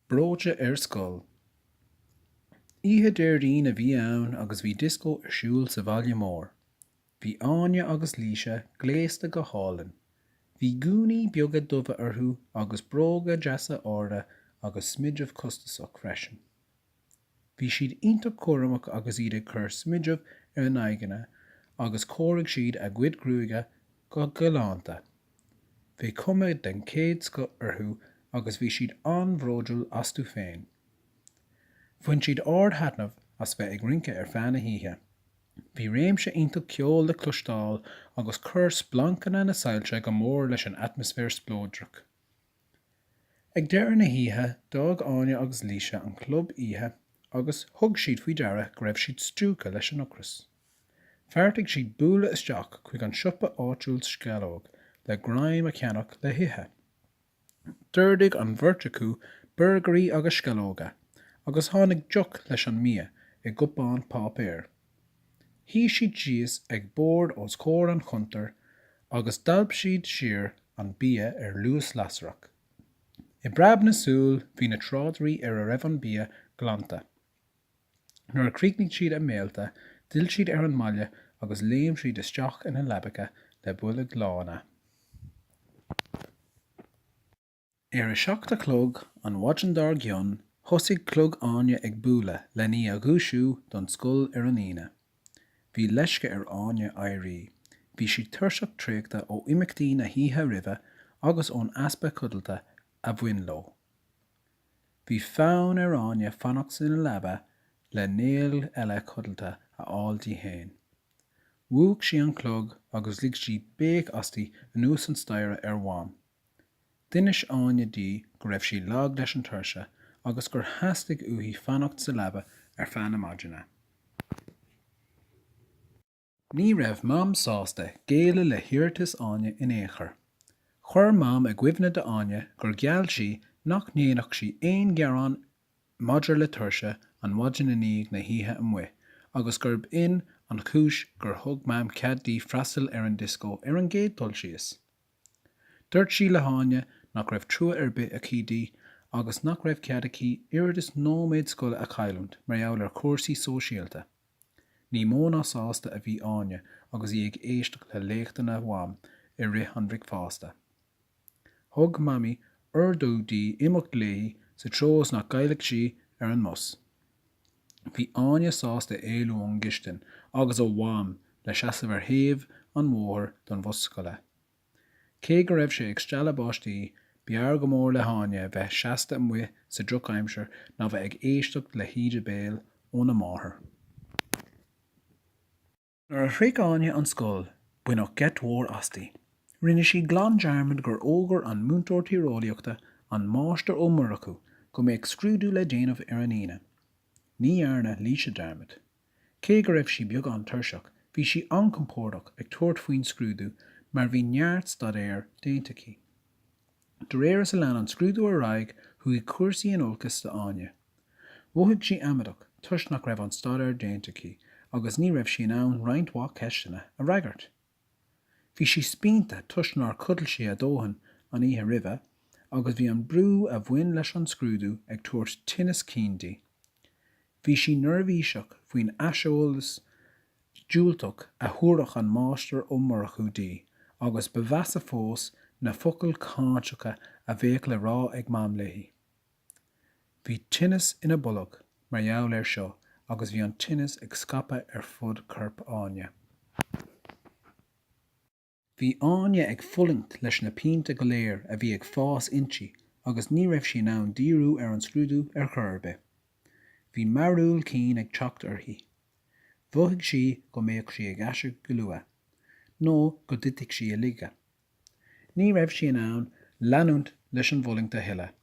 Breoite ar scoil. Oíche Déardaoin a bhí ann agus bhí dioscó ar siúl sa bhaile mór. Bhí Áine agus Laoise gléasta go hálainn. Bhí gúnaí beaga dubha orthu agus bróga deasa arda agus smideadh costasach freisin. Bhí siad iontach cúramach agus iad ag cur smididh ar a n-aghaidheanna agus chóirigh siad a gcuid gruaige go galánta. Bhí cuma den chéad scoth orthu agus bhí siad an-bhródúil astu féin. Bhain siad ard-thaitneamh as bheith ag rince ar feadh na hoíche. Bhí réimse iontach ceoil le cloisteáil agus chuir splancanna na soilse go mór leis an atmaisféar spleodrach. Ag deireadh na hoíche, d'fhág Áine agus Laoise an club oíche agus thug siad faoi deara go raibh siad stiúgtha leis an ocras. Bheartaigh siad bualadh isteach chuig an siopa áitiúil sceallóg le greim a cheannach le hithe. D'ordaigh an bheirt acu burgairí agus sceallóga, agus tháinig deoch leis an mbia i gcupán páipéir. Shuigh siad síos ag bord os comhair an chuntair agus d'alp siad siar an bia ar luas lasrach. I bpreab na súl bhí na tráidirí ar a raibh an bia glanta. Nuair a chríochnaigh siad a mbéilte, d'fhill siad ar an mbaile agus léim siad isteach ina leabacha le boilg lána. Ar a seacht a chlog an mhaidin dár gcionn, thosaigh clog Áine ag bualadh lena í a dhúisiú don scoil ar an Aoine. Bhí leisce ar Áine éirí. Bhí sí tuirseach traochta ó imeachtaí na hoíche roimhe agus ón easpa codlata a bhain leo. Bhí fonn ar Áine fanacht sa leaba le néal eile codlata a fháil di féin. Mhúch sí an clog agus lig sí béic aisti anuas an staighre ar Mham. D'inis Áine di go raibh sí lag leis an tuirse agus gur theastaigh uaithi fanacht sa leaba ar feadh na maidine. Ní raibh Mam sásta géilleadh le hiarratas Áine in aon chor. Chuir Mam i gcuimhne d'Áine gur gheall sí nach ndéanfadh sí aon ghearán maidir le tuirse an mhaidin i ndiaidh na hoíche amuigh agus gurb in an chúis gur thug Mam cead di freastal ar an dioscó ar an gcéad dul síos. Dúirt sí le hÁine nach raibh trua ar bith aici di agus nach raibh cead aici oiread is nóiméad scoile a chailliúint mar gheall ar chúrsaí sóisialta. Ní mó ná sásta a bhí Áine agus í ag éisteacht le léacht óna Mam i rith an bhricfeásta. Thug Mamaí ordú di imeacht léi sa treo is nach gcaillfeadh sí ar an mbus. Bhí Áine sásta éalú ón gcistin agus ó Mham le seasamh ar thaobh an bhóthair don bhus scoile. Cé go raibh sé ag stealladh báistí, b'fhearr go mór le hÁine bheith seasta amuigh sa drochaimsir ná bheith ag éisteacht le híde béil óna máthair. Nuair a shroich Áine an scoil, baineadh geit mhór asti. Rinne sí glan dearmad gur fhógair an múinteoir tíreolaíochta, an Máistir Ó Murchú, go mbeadh scrúdú le déanamh ar an Aoine. Ní dhearna Laoise dearmad. Cé go raibh sí beagán tuirseach, bhí sí an-chompórdach ag tabhairt faoin scrúdú mar bhí neart staidéir déanta aici. De réir is a lean an scrúdú ar aghaidh, chuaigh cúrsaí in olcas d'Áine. Mhothaigh sí amaideach toisc nach raibh an staidéar déanta aici agus ní raibh sí in ann roinnt mhaith ceisteanna a fhreagairt. Bhí sí spíonta toisc nár chodail sí a dóthain an oíche roimhe agus bhí an brú a bhain leis an scrúdú ag tabhairt tinneas cinn di. Bhí sí neirbhíseach faoin aiseolas diúltach a thabharfadh an Máistir Ó Murchú di, agus ba mheasa fós na focail cáinteacha a bheadh le rá ag Mam léi. Bhí tinneas ina bolg mar gheall air seo agus bhí an tinneas ag scaipeadh ar fud corp Áine. Bhí Áine ag fulaingt leis na pianta go léir a bhí ag fás inti agus ní raibh sí in ann díriú ar an scrúdú ar chor ar bith. Bhí mearbhall cinn ag teacht uirthi. Mhothaigh sí go mbeadh sí ag aiseag go luath, nó go dtitfeadh sí i laige. Ní raibh sí in ann leanúint leis an bhfulaingt a thuilleadh.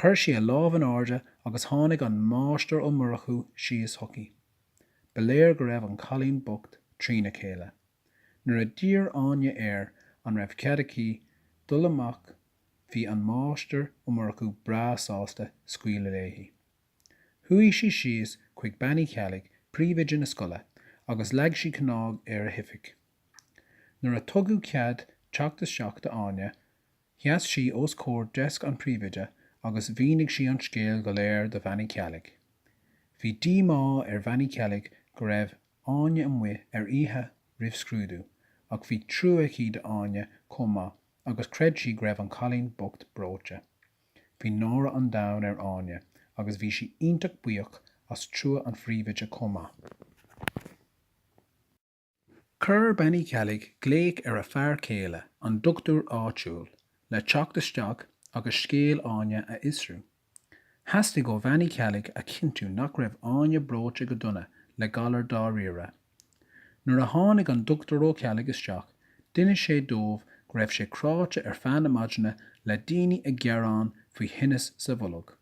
Chuir sí a lámh in airde agus tháinig an Máistir Ó Murchú síos chuici. Ba léir go raibh an cailín bocht trína chéile. Nuair a d'iarr Áine air an raibh cead aici dul amach bhí an Máistir Ó Murchú breá sásta scaoileadh léi. Chuaigh sí síos chuig Bean Uí Cheallaigh, príomhoide na scoile, agus leag sí cnag ar a hoifig. Nuair a tugadh cead teacht isteach d'Áine sheas sí os comhair deasc an phríomhoide agus mhínigh sí an scéal go léir do Bhean Uí Cheallaigh. Bhí díomá ar Bhean Uí Cheallaigh go raibh Áine amuigh ar oíche roimh scrúdú ach bhí trua aici d'Áine chomh maith agus chreid sí go raibh an cailín bocht breoite. Bhí náire an domhain ar Áine agus bhí sí iontach buíoch as trua an phríomhoide chomh maith. Chuir Bean Uí Cheallaigh glaoch ar a fear céile, an dochtúir áitiúil, le teacht isteach agus scéal Áine a fhiosrú. Theastaigh ó Bhean Uí Cheallaigh a chinntiú nach raibh Áine breoite go dona le galar dáiríre. Nuair a tháinig an Dr Ó Ceallaigh isteach, d'inis sé dóibh go raibh sé cráite ar feadh na maidine le daoine ag gearán faoi thinneas sa bholg.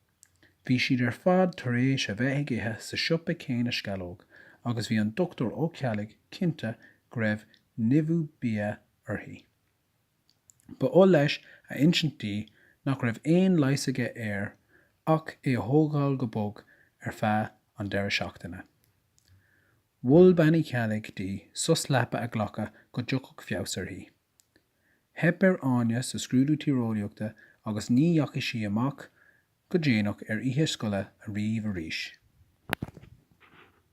Bhí siad ar fad tar éis a bheith ag ithe sa siopa céanna sceallóg agus bhí an Dr Ó Ceallaigh cinnte go raibh nimhiú bia orthu. Ba oth leis a insint di nach raibh aon leigheas aige air ach é a thógáil go bog ar feadh an deireadh seachtaine. Mhol Bean Uí Cheallaigh di sos leapa a ghlacadh go dtiocfadh feabhas uirthi. Theip ar Áine sa scrúdú tíreolaíochta agus ní dheachaigh sí amach go déanach ar oíche scoile ariamh arís.